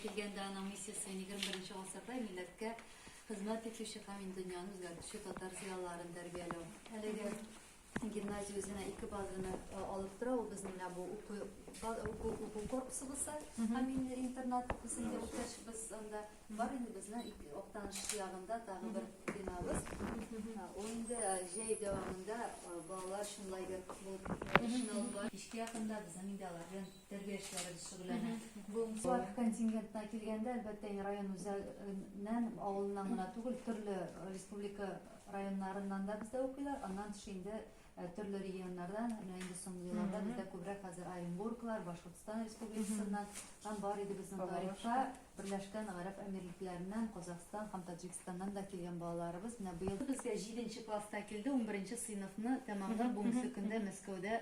Килгәндә аның миссиясе егерме беренче гасырда милләткә хезмәт итүче һәм мин дөньяны үзгәртүче татар зыялыларын тәрбияләү. Әлеге гимназия үзенә ике базаны э, алып тора. Ул безнең менә бу уку уку, уку корпусыбызы һәм инде интернат исемле үткәчбез анда бар инде безнең ике актаныш ягында тагы бер бинабыз. Э, Ул инде э, җәй дәвамында э, балалар өчен лагерь булып эшен алып бара. Кичкә якында безнең инде алар белән Тәрбиячеләребез шөгыльләнә. Бу Слав контингентына килгәндә, әлбәттә, район үзәгеннән, авылыннан гына түгел, төрле республика районнарыннан да бездә укыйлар. Аннан тыш инде төрле регионнардан, менә инде соңгы елларда бездә күбрәк хәзер Оренбурглар, Башкортстан Республикасыннан һәм бар иде безнең тарихта Берләшкән Гарәп Әмирлекләреннән, Казахстан һәм Таҗикстаннан да килгән балаларыбыз. Менә быел безгә 7 нче класста килде, 11 нче сыйныфны тәмамлап, бүгенге көндә Мәскәүдә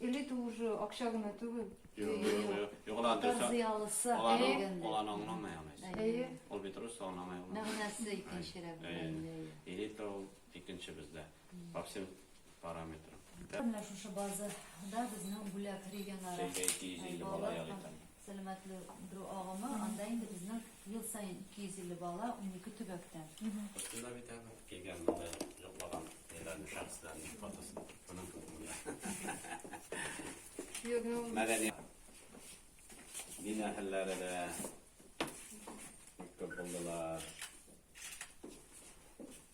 Или ты уже акча гына түгел. Юк, ла дөрес. Зыялысы. Алан аңламый аны. Әйе. Ул бит рус аңламый ул. Мәгънәсе икенчерәк. Или ты ул икенче бездә. По всем параметрам. Менә шушы базада безнең бүләк регионара. Сәйгә 250 бала ял итә. Сәламәтләндерү агымы, анда инде безнең ел саен 250 бала, унике төбәктән. Өстендә бит әле килгән монда йоклаган ниләрне, шәхесләрнең фотосы. Моның кебегенә. Мәдәни дин әһелләре дә күп булдылар.